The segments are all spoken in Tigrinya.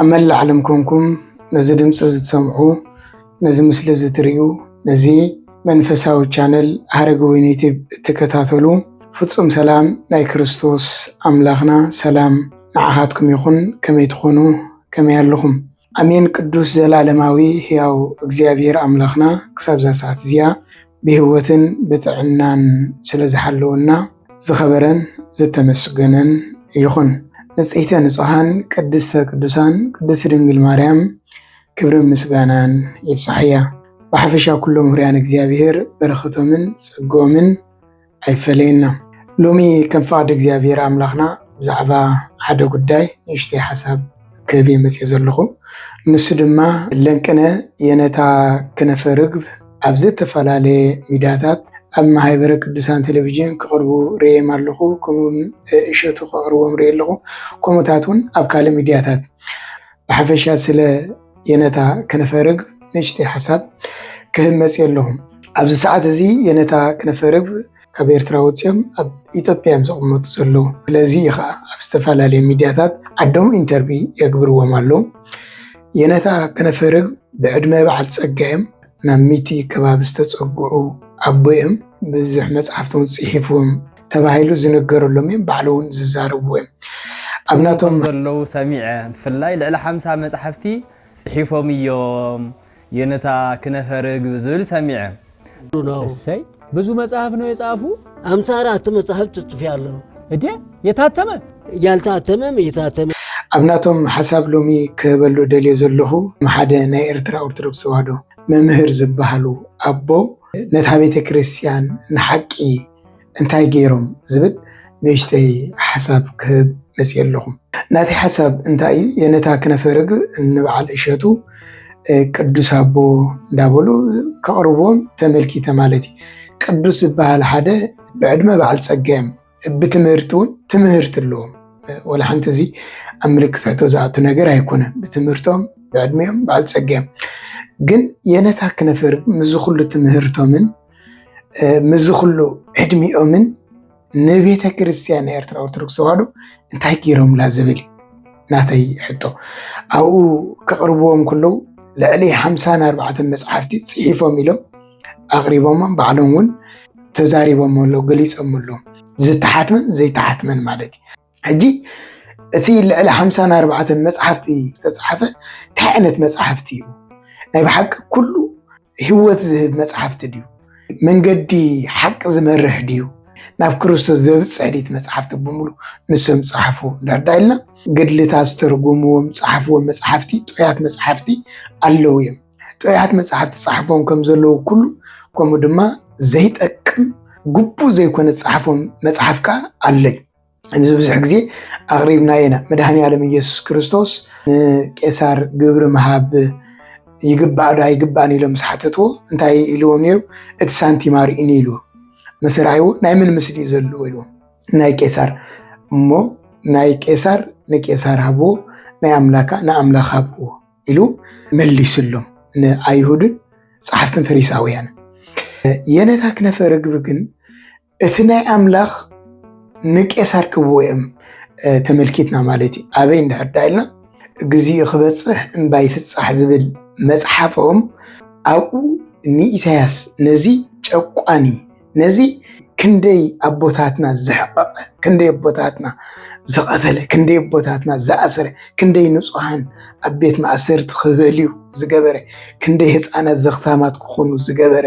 ኣብ መላእ ዓለም ኮንኩም ነዚ ድምፂ ዝትሰምዑ ነዚ ምስሊ እዚ ትሪኡ ነዚ መንፈሳዊ ቻነል ሃረገ ወይኒ ዩቲብ እትከታተሉ ፍፁም ሰላም ናይ ክርስቶስ ኣምላኽና ሰላም ንዓኻትኩም ይኹን ከመይ ትኾኑ ከመይ ኣለኹም ኣሜን ቅዱስ ዘላለማዊ ሕያው እግዚኣብሔር ኣምላኽና ክሳብ እዛ ሰዓት እዚኣ ብህይወትን ብጥዕናን ስለ ዝሓለወና ዝኸበረን ዝተመስገነን ይኹን። ንጽሕተ ንጹሓን ቅድስተ ቅዱሳን ቅድስቲ ድንግል ማርያም ክብርን ምስጋናን ይብጻሕያ። ብሓፈሻ ኩሎም ህርያን እግዚኣብሔር በረኸቶምን ጸግኦምን ኣይፈለየና። ሎሚ ከም ፍቓድ እግዚኣብሔር ኣምላኽና ብዛዕባ ሓደ ጉዳይ ንእሽተይ ሓሳብ ክህብ እየ መጺኤ ዘለኹ። ንሱ ድማ ለንቅነ የነታ ክነፈ ርግብ ኣብ ዝተፈላለየ ሚዳታት ኣብ ማህበረ ቅዱሳን ቴሌቪዥን ክቕርቡ ርእየም ኣለኹ ከምኡውን እሸቱ ከቕርቦም ርእየ ኣለኹ ከምኡታት እውን ኣብ ካልእ ሚድያታት ብሓፈሻ ስለ የነታ ከነፈርብ ንእሽተይ ሓሳብ ክህብ መፅዮ ኣለኹ። ኣብዚ ሰዓት እዚ የነታ ከነፈርብ ካብ ኤርትራ ወፂኦም ኣብ ኢትዮጵያ እዮም ዘቕመጡ ዘለዉ። ስለዚ እዩ ከዓ ኣብ ዝተፈላለዩ ሚዲያታት ዓዶም ኢንተርቪ የግብርዎም ኣለዉ። የነታ ከነፈርብ ብዕድመ በዓል ፀጋ እዮም። ናብ ሚቲ ከባቢ ዝተፀግዑ ኣቦ እዮም። ብዙሕ መፅሓፍቲ እውን ፅሒፎም ተባሂሉ ዝንገረሎም እዮም ባዕሉ እውን ዝዛረብዎ እዮም ኣብ ናቶም ዘለዉ ሰሚዐ ብፍላይ ልዕሊ ሓምሳ መጻሕፍቲ ጽሒፎም እዮም የነታ ክነፈ ርግብ ዝብል ሰሚዐ እሰይ ብዙ መጽሐፍ ነው የጻፉ አምሳ አራት መጽሐፍ ትጽፍ ያለው እዴ የታተመ ያልታተመም እየታተመ ኣብ ናቶም ሓሳብ ሎሚ ክህበሉ ደልየ ዘለኹ ሓደ ናይ ኤርትራ ኦርቶዶክስ ተዋህዶ መምህር ዝበሃሉ ኣቦ ነታ ቤተ ክርስቲያን ንሓቂ እንታይ ገይሮም ዝብል ንእሽተይ ሓሳብ ክህብ መፅየ ኣለኹም። ናቲ ሓሳብ እንታይ እዩ? የነታ ክነፈ ርግብ ንበዓል እሸቱ ቅዱስ ኣቦ እንዳበሉ ከቕርቦም ተመልኪተ ማለት እዩ። ቅዱስ ዝበሃል ሓደ ብዕድመ በዓል ፀገም ብትምህርቲ እውን ትምህርቲ ኣለዎም። ወላ ሓንቲ እዚ ኣብ ምልክት ሕቶ ዝኣቱ ነገር ኣይኮነን። ብትምህርቶም ብዕድሜኦም በዓል ፀገም ግን የነታ ክነፈ ርግብ ምስዚ ኩሉ ትምህርቶምን ምዚ ኩሉ ዕድሚኦምን ንቤተ ክርስቲያን ናይ ኤርትራ ኦርቶዶክስ ተዋህዶ እንታይ ገይሮምላ ዝብል እዩ ናተይ ሕቶ። ኣብኡ ከቕርብዎም ከለዉ ልዕሊ ሓምሳን ኣርባዕተን መፅሓፍቲ ፅሒፎም ኢሎም ኣቕሪቦሞም ባዕሎም እውን ተዛሪቦም ኣለዉ ገሊፆም ኣለዉ ዝተሓትመን ዘይተሓትመን ማለት እዩ። ሕጂ እቲ ልዕሊ ሓምሳን ኣርባዕተን መፅሓፍቲ ዝተፅሓፈ እንታይ ዓይነት መፅሓፍቲ እዩ? ናይ ብሓቂ ኩሉ ህይወት ዝህብ መፅሓፍቲ ድዩ? መንገዲ ሓቂ ዝመርሕ ድዩ? ናብ ክርስቶስ ዘብፅሕ ድዩ? መፅሓፍቲ ብምሉ ንሶም ፀሓፉ እንዳዳ ኢልና ገድልታ ዝተርጉምዎም ፀሓፍዎም መፅሓፍቲ ጥዑያት መፅሓፍቲ ኣለዉ እዮም። ጥዑያት መፅሓፍቲ ፀሓፍዎም ከም ዘለዉ ኩሉ ከምኡ ድማ ዘይጠቅም ግቡእ ዘይኮነ ፀሓፍዎም መፅሓፍ ከዓ ኣለዩ። እዚ ብዙሕ ግዜ ኣቕሪብና ኢና። መድሃኒ ኣለም ኢየሱስ ክርስቶስ ንቄሳር ግብሪ ምሃብ ይግባእ ዶ ኣይግባእን ኢሎም ምስ ሓተትዎ እንታይ ኢልዎም ነይሩ? እቲ ሳንቲም ኣርእኒ ኢልዎ። ምስ ረኣይዎ ናይ ምን ምስሊ እዩ ዘለዎ ኢልዎም፣ ናይ ቄሳር እሞ ናይ ቄሳር ንቄሳር ሃብዎ ናይ ኣምላካ ንኣምላኽ ሃብዎ ኢሉ መሊስሎም ንኣይሁድን ጸሓፍትን ፈሪሳውያን የነታ ክነፈ ርግቢ ግን እቲ ናይ ኣምላኽ ንቄሳር ክብዎ እዮም ተመልኪትና ማለት እዩ ኣበይ እንድሕር ዳ ኢልና ግዚኡ ክበጽሕ እምባ ይፍጻሕ ዝብል መጽሓፎም ኣብኡ ንኢሳያስ ነዚ ጨቋኒ ነዚ ክንደይ ኣቦታትና ዘሕቐቐ ክንደይ ኣቦታትና ዝቐተለ ክንደይ ኣቦታትና ዝኣሰረ ክንደይ ንጹሃን ኣብ ቤት ማእሰርቲ ክበልዩ ዝገበረ ክንደይ ህፃናት ዘኽታማት ክኾኑ ዝገበረ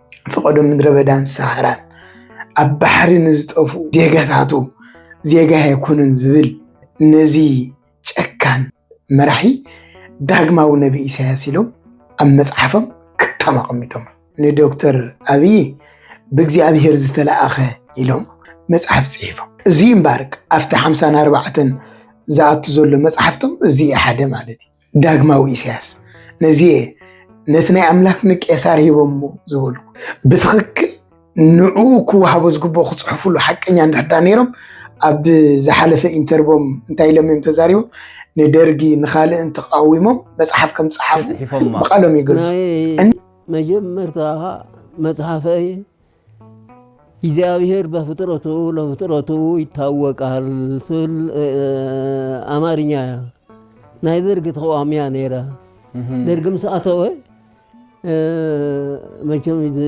ፈቐዶ ምድረበዳን ሳሃራን ኣብ ባሕሪ ንዝጠፍኡ ዜጋታቱ ዜጋ ኣይኮነን ዝብል ነዚ ጨካን መራሒ ዳግማዊ ነብይ ኢሳያስ ኢሎም ኣብ መጽሓፎም ክታም ኣቐሚጦም ንዶክተር ኣብይ ብእግዚኣብሔር ዝተለኣኸ ኢሎም መጽሓፍ ጽሒፎም እዚ እምበኣር ኣብቲ ሓምሳን ኣርባዕተን ዝኣቱ ዘሎ መጽሓፍቶም እዚ ሓደ ማለት እዩ። ዳግማዊ ኢሳያስ ነዚየ ነቲ ናይ ኣምላኽ ንቄሳር ሂቦሞ ዝበሉ ብትኽክል ንዑ ክወሃቦ ዝግብኦ ክፅሕፍሉ ሓቀኛ እንድሕዳ ነይሮም ኣብ ዝሓለፈ ኢንተርቦም እንታይ ኢሎም እዮም ተዛሪቦም ንደርጊ ንካልእን ተቃዊሞም መፅሓፍ ከም ፀሓፉ ብቃሎም ይገልፁ መጀመርታ መፅሓፈይ እግዚኣብሔር በፍጥረቱ ለፍጥረቱ ይታወቃል ትብል ኣማርኛ እያ ናይ ደርጊ ተቃዋሚ እያ ነይራ ደርጊ ምስ ኣተወ መቸም እዚ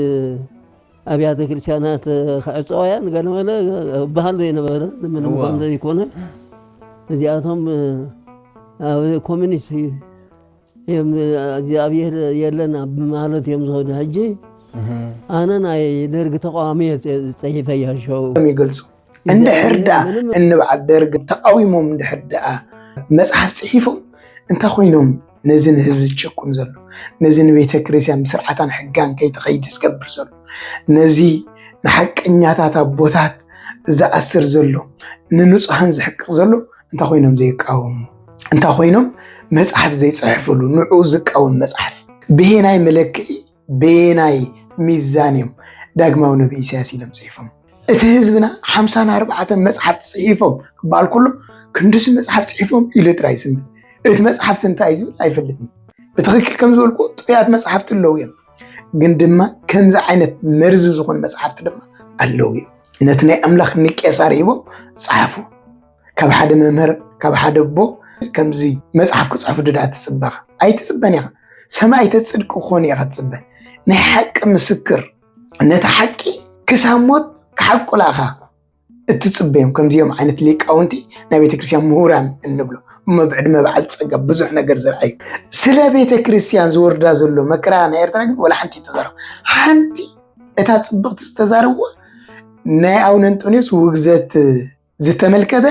ኣብያተ ክርስቲያናት ክዕፀዋ እያ ንገለመለ በሃል ዘይነበረ ምንም ከም ዘይኮነ እዚኣቶም ኣብ ኮሚኒስት እግዚኣብሔር የለን ኣብ ማለት እዮም ዝኸዱ ሕጂ ኣነ ናይ ደርግ ተቃዋሚ ፀሒፈ ያሸው ይገልፁ እንድሕር ደኣ እንበዓል ደርግ ተቃዊሞም እንድሕር ደኣ መፅሓፍ ፅሒፎም እንታይ ኮይኖም ነዚ ንህዝቢ ዝጭቁን ዘሎ ነዚ ንቤተ ክርስቲያን ብስርዓታን ሕጋን ከይተኸይድ ዝገብር ዘሎ ነዚ ንሓቀኛታት ኣቦታት ዝኣስር ዘሎ ንንፁሃን ዝሕቅቕ ዘሎ እንታይ ኮይኖም ዘይቃወሙ እንታ ኮይኖም መፅሓፍ ዘይፅሕፍሉ ንዑ ዝቃወም መፅሓፍ ብሄናይ መለክዒ ብሄናይ ሚዛን እዮም ዳግማዊ ነቢ ኢሳያስ ኢሎም ፅሒፎም እቲ ህዝብና ሓምሳን ኣርባዕተን መፅሓፍ ፅሒፎም ክበሃል ከሎ ክንድዚ መፅሓፍ ፅሒፎም ኢሉ ጥራይ ስም እቲ መፅሓፍቲ እንታይ ዝብል ኣይፈልጥን ብትክክል ከም ዝበልኩ ጥያት መፅሓፍቲ ኣለዉ እዮም ግን ድማ ከምዚ ዓይነት መርዚ ዝኾኑ መፅሓፍቲ ድማ ኣለዉ እዮም ነቲ ናይ ኣምላኽ ንቄሳር ሂቦም ፀሓፉ ካብ ሓደ መምህር ካብ ሓደ ኣቦ ከምዚ መፅሓፍ ክፅሕፉ ድዳ ትፅበ ኣይትፅበን ኢኻ ሰማይተ ፅድቂ ክኾኑ ኢኻ ትፅበ ናይ ሓቂ ምስክር ነቲ ሓቂ ክሳብ ሞት ክሓቁላ ኢኻ እትፅበዮም ከምዚኦም ዓይነት ሊቃውንቲ ናይ ቤተክርስትያን ምሁራን እንብሎ እሞ ብዕድመ በዓል ፀጋ ብዙሕ ነገር ዝርኣዩ ስለ ቤተክርስትያን ዝወርዳ ዘሎ መከራ ናይ ኤርትራ ግን ወላ ሓንቲ ተዛረቡ ሓንቲ እታ ፅብቕቲ ዝተዛረብዋ ናይ ኣቡነ እንጦንዮስ ውግዘት ዝተመልከተ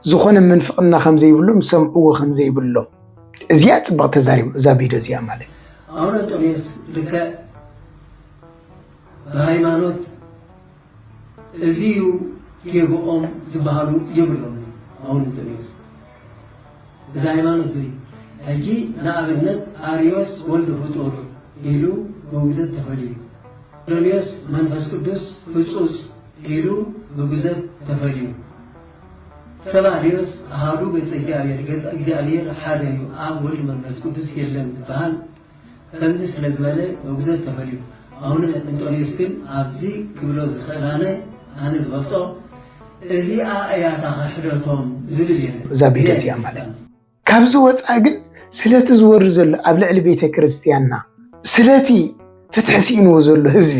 ዝኾነ ምንፍቕና ከም ዘይብሎም ሰምዕዎ ከም ዘይብሎም እዚኣ ፅባቕ ተዛሪቡ እዛ ቪድዮ እዚኣ ማለት ኣቡነ እንጦንዮስ ልክዕ ብሃይማኖት እዚ እዩ ጌግኦም ዝበሃሉ የብሎም ኣቡነ እንጦንዮስ እዚ ሃይማኖት እዚ ሕጂ ንኣብነት ኣርዮስ ወልድ ፍጡር ኢሉ ብውግዘት ተፈልዩ፣ ዶልዮስ መንፈስ ቅዱስ ህጹጽ ኢሉ ብጉዘት ተፈልዩ፣ ሰብ ኣርዮስ ኣሃዱ ገጸ እግዚኣብሔር ገጽ እግዚኣብሔር ሓደ እዩ ኣብ ወልድ መንፈስ ቅዱስ የለን ትበሃል፣ ከምዚ ስለ ዝበለ ውግዘት ተፈልዩ። ኣቡነ እንጦንዮስ ግን ኣብዚ ክብሎ ዝኽእል ኣነ ኣነ ዝፈልጦ እዚኣ እያ እታ ክሕደቶም ዝብል የለን። እዛ ቢዶ እዚኣ ማለት ካብዚ ወፃኢ ግን ስለቲ ዝወርድ ዘሎ ኣብ ልዕሊ ቤተ ክርስቲያንና ስለቲ ፍትሒ ስኢንዎ ዘሎ ህዝቢ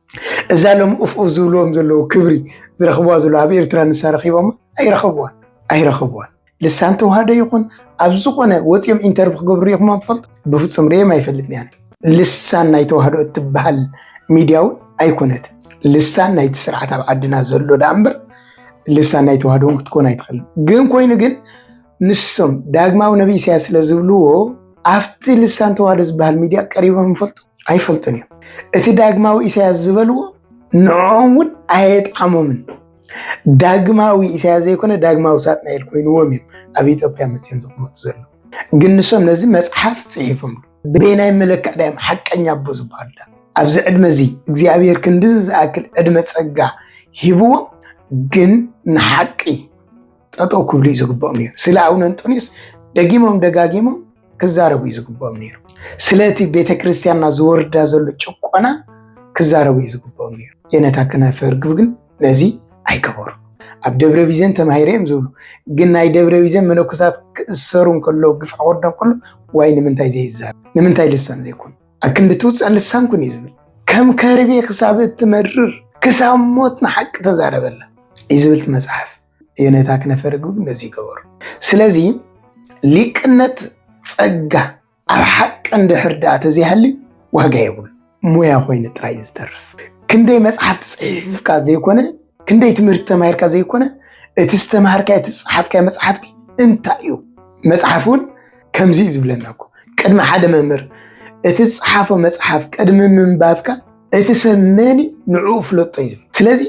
እዛ ሎም ኡፍኡፍ ዝብልዎም ዘለዉ ክብሪ ዝረኽብዋ ዘለዉ ኣብ ኤርትራ ንሳ ረኺቦማ ኣይረኸብዋን ኣይረኸብዋን ልሳን ተዋህዶ ይኹን ኣብ ዝኾነ ወፂኦም ኢንተርቪ ክገብሩ ሪኢኹሞም ትፈልጡ? ብፍፁም ሪኦም ኣይፈልጥን ያነ ልሳን ናይ ተዋህዶ እትበሃል ሚድያ እውን ኣይኮነት ልሳን ናይቲ ስርዓት ኣብ ዓድና ዘሎ ዳኣ እምበር ልሳን ናይ ተዋህዶ እውን ክትኮን ኣይትኽእልን። ግን ኮይኑ ግን ንሶም ዳግማዊ ነቢ ኢሳያስ ስለ ዝብልዎ ኣብቲ ልሳን ተዋህዶ ዝበሃል ሚድያ ቀሪቦም ይፈልጡ? ኣይፈልጡን እዮም እቲ ዳግማዊ ኢሳያስ ዝበልዎ ንዕኦም እውን ኣየጥዓሞምን ዳግማዊ ኢሳያስ ዘይኮነ ዳግማዊ ሳጥናኤል ኮይንዎም እዮም ኣብ ኢትዮጵያ መፅኦም ዝቕመጡ ዘለዉ ግን ንሶም ነዚ መፅሓፍ ፅሒፎም በየናይ መለክዕ ዳዮም ሓቀኛ ኣቦ ዝበሃሉ ዳ ኣብዚ ዕድመ እዚ እግዚኣብሔር ክንድዚ ዝኣክል ዕድመ ፀጋ ሂብዎም ግን ንሓቂ ጠጠው ክብሉ እዩ ዝግብኦም ነይሩ። ስለ ኣቡነ እንጦንዮስ ደጊሞም ደጋጊሞም ክዛረቡ እዩ ዝግብኦም ነይሩ። ስለቲ ቤተ ክርስቲያንና ዝወርዳ ዘሎ ጭቆና ክዛረቡ እዩ ዝግብኦም ነይሩ። የነታ ክነፈ ርግብ ግን ነዚ ኣይገበሩ። ኣብ ደብረ ቢዘን ተማሂረ እዮም ዝብሉ ግን ናይ ደብረ ቢዘን መነኮሳት ክእሰሩ እንከሎ ግፍ ክወርዶ እንከሎ ዋይ ንምንታይ ዘይዛረብ ንምንታይ ልሳን ዘይኮኑ ኣብ ክንዲ ትውፃእ ልሳን ኩን እዩ ዝብል ከም ከርቤ ክሳብ እትመርር ክሳብ ሞት ንሓቂ ተዛረበላ እዩ ዝብልቲ መፅሓፍ የኔታ ክነፈር ግን ነዚ ይገበሩ። ስለዚ ሊቅነት ጸጋ ኣብ ሓቂ እንድሕር ደኣ ተዘይሃሊ ዋጋ የብሉ ሞያ ኮይኑ ጥራይ እዩ ዝተርፍ። ክንደይ መጽሓፍቲ ጽሒፍካ ዘይኮነ ክንደይ ትምህርቲ ተማሂርካ ዘይኮነ እቲ ዝተምሃርካዮ እቲ ዝጸሓፍካዮ መጽሓፍቲ እንታይ እዩ መጽሓፍ እውን ከምዚ እዩ ዝብለና እኮ ቅድሚ ሓደ መምህር እቲ ዝጸሓፎ መጽሓፍ ቅድሚ ምንባብካ እቲ ሰብ መኒ ንዕኡ ፍለጦ እዩ ዝብል ስለዚ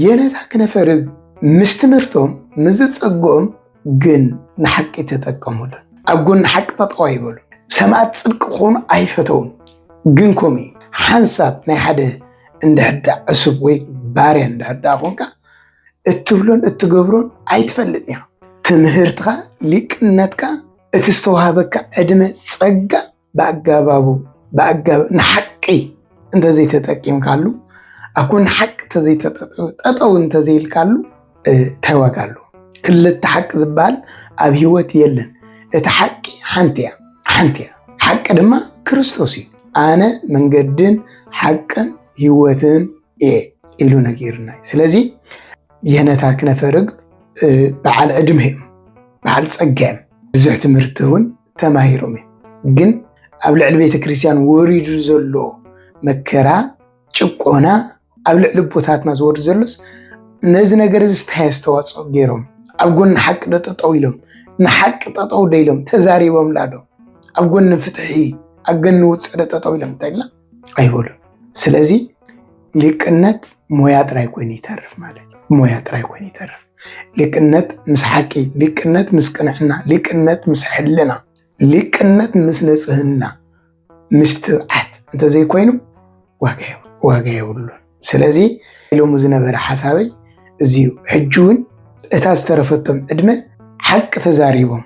የነታ ክነፈርግ ምስ ትምህርቶም ምስ ዝጸግኦም ግን ንሓቂ ተጠቀሙሉን ኣብ ጎኒ ሓቂ ጠጠው ኣይበሉ ሰማእት ጽድቂ ክኾኑ ኣይፈተውን ግን ከምኡ እዩ ሓንሳብ ናይ ሓደ እንድሕዳ ዕሱብ ወይ ባርያ እንድሕዳ ኮንካ እትብሎን እትገብሮን ኣይትፈልጥን ኢኻ ትምህርትኻ ሊቅነትካ እቲ ዝተዋህበካ ዕድመ ጸጋ ብኣጋባቡ ብኣጋብ ንሓቂ እንተዘይተጠቂምካሉ ኣኮ ንሓቂ ጠጠው እንተዘይልካሉ እንታይ ዋጋ ኣሉ ክልተ ሓቂ ዝበሃል ኣብ ሂወት የለን እቲ ሓቂ ሓንቲ እያ ሓንቲ እያ ሓቂ ድማ ክርስቶስ እዩ ኣነ መንገድን ሓቅን ሂወትን እየ ኢሉ ነጊርና ስለዚ የነታ ክነፈርግ በዓል ዕድመ እዮም በዓል ፀጋ እዮም ብዙሕ ትምህርቲ እውን ተማሂሮም እዮም። ግን ኣብ ልዕሊ ቤተ ክርስቲያን ወሪዱ ዘሎ መከራ ጭቆና ኣብ ልዕሊ ቦታትና ዝወርድ ዘሎስ ነዚ ነገር እዚ ስታይ ኣስተዋፅኦ ገይሮም ኣብ ጎኒ ሓቂ ዶ ጠጠው ኢሎም ንሓቂ ጠጠው ዶ ኢሎም ተዛሪቦም ላዶ ኣብ ጎኒ ፍትሒ ኣብ ጎኒ ውፅዕ ዶ ጠጠው ኢሎም እንታይ ኢልና ኣይበሉን። ስለዚ ሊቅነት ሞያ ጥራይ ኮይኑ ይተርፍ ማለት እዩ። ሞያ ጥራይ ኮይኑ ይተርፍ። ሊቅነት ምስ ሓቂ፣ ሊቅነት ምስ ቅንዕና፣ ሊቅነት ምስ ሕልና፣ ሊቅነት ምስ ንጽህና፣ ምስ ትብዓት እንተዘይኮይኑ ዋጋ የብሉን። ስለዚ ኢሎሙ ዝነበረ ሓሳበይ እዚዩ ሕጂ እውን እታ ዝተረፈቶም ዕድመ ሓቂ ተዛሪቦም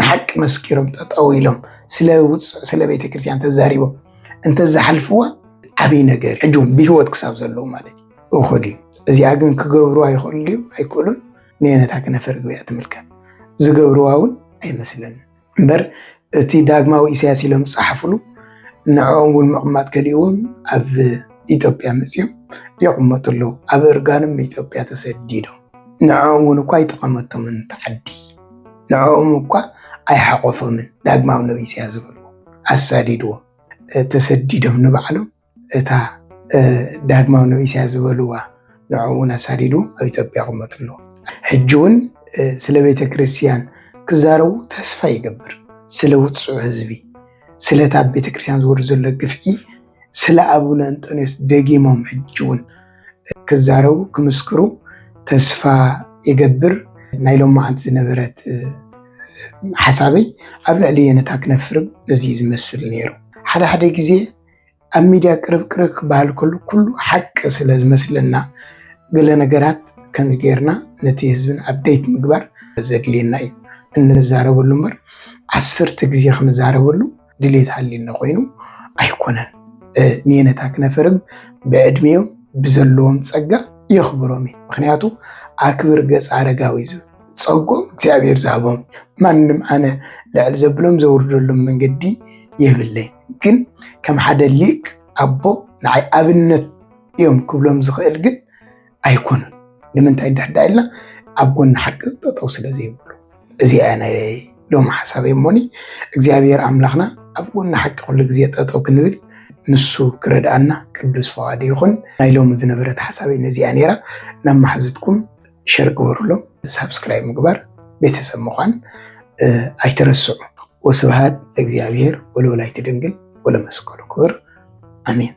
ንሓቂ መስኪሮም ጠጠው ኢሎም ስለ ውፅዕ ስለ ቤተክርስትያን ተዛሪቦም እንተዝሓልፍዋ ዓብይ ነገር ሕጂ እውን ብሂወት ክሳብ ዘለዉ ማለት እዩ እኹል እዩ እዚኣ ግን ክገብርዋ ይኽእሉ ድዮም ኣይክእሉን ንየነታ ክነፈር ግበያ ትምልከት ዝገብርዋ እውን ኣይመስለኒ እምበር እቲ ዳግማዊ ኢሳያስ ኢሎም ዝፀሓፍሉ ንዕኦም እውን ምቕማጥ ከሊእዎም ኣብ ኢትዮጵያ መፅኦም የቕመጡ ኣለዉ ኣብ እርጋኖም ኢትዮጵያ ተሰዲዶም ንዕኦም እውን እኳ ኣይጠቐመቶምን ተዓዲ ንዕኦም እኳ ኣይሓቆፎምን ዳግማዊ ነብይ ኢሳያስ ዝበልዎ ኣሳዲድዎም ተሰዲዶም ንባዕሎም እታ ዳግማዊ ነብይ ኢሳያስ ዝበልዋ ንዕኦም እውን ኣሳዲድዎም ኣብ ኢትዮጵያ ይቕመጡ ኣለዉ ሕጂ እውን ስለ ቤተ ክርስቲያን ክዛረቡ ተስፋ ይገብር ስለ ውፁዕ ህዝቢ ስለታ ቤተክርስትያን ዝወርድ ዘሎ ግፍዒ ስለ ኣቡነ እንጦንዮስ ደጊሞም ሕጂ እውን ክዛረቡ ክምስክሩ ተስፋ ይገብር። ናይ ሎማዓንቲ ዝነበረት ሓሳበይ ኣብ ልዕሊ የነታ ክነፍርብ እዚ ዝመስል ነይሩ። ሓደ ሓደ ግዜ ኣብ ሚድያ ቅርብ ቅርብ ክበሃል ከሉ ኩሉ ሓቂ ስለ ዝመስለና ገለ ነገራት ከም ጌርና ነቲ ህዝብን ኣብደይት ምግባር ዘድልየና እዩ። እንዛረበሉ እምበር ዓስርተ ግዜ ክንዛረበሉ ድሌት ሃልዩኒ ኮይኑ ኣይኮነን። ንየነታ ክነፍርም ብዕድሜኦም ብዘለዎም ጸጋ የኽብሮም እዩ። ምክንያቱ ኣክብር ገጽ ኣረጋዊ ዝብል ጸጎም እግዚኣብሔር ዝሃቦም ማንም ኣነ ልዕል ዘብሎም ዘውርደሎም መንገዲ የብለይ ግን ከም ሓደ ሊቅ ኣቦ ንዓይ ኣብነት እዮም ክብሎም ዝኽእል ግን ኣይኮኑን። ንምንታይ እንድሕር ዳኣ ኢልና ኣብ ጎኒ ሓቂ ጠጠው ስለ ዘይብሉ እዚኣ እያ ናይ ሎሚ ሓሳበይ እሞኒ እግዚኣብሔር ኣምላኽና ኣብ ጎኒ ሓቂ ኩሉ ግዜ ጠጠው ክንብል ንሱ ክረድኣና ቅዱስ ፈቓዱ ይኹን። ናይ ሎሚ ዝነበረት ሓሳበይ ነዚኣ ነይራ። ናብ መሓዙትኩም ሸር ግበሩሎም፣ ሳብስክራይብ ምግባር ቤተሰብ ምዃን ኣይትረስዑ። ወስብሃት ለእግዚኣብሔር ወለወላዲቱ ድንግል ወለመስቀሉ ክቡር ኣሜን።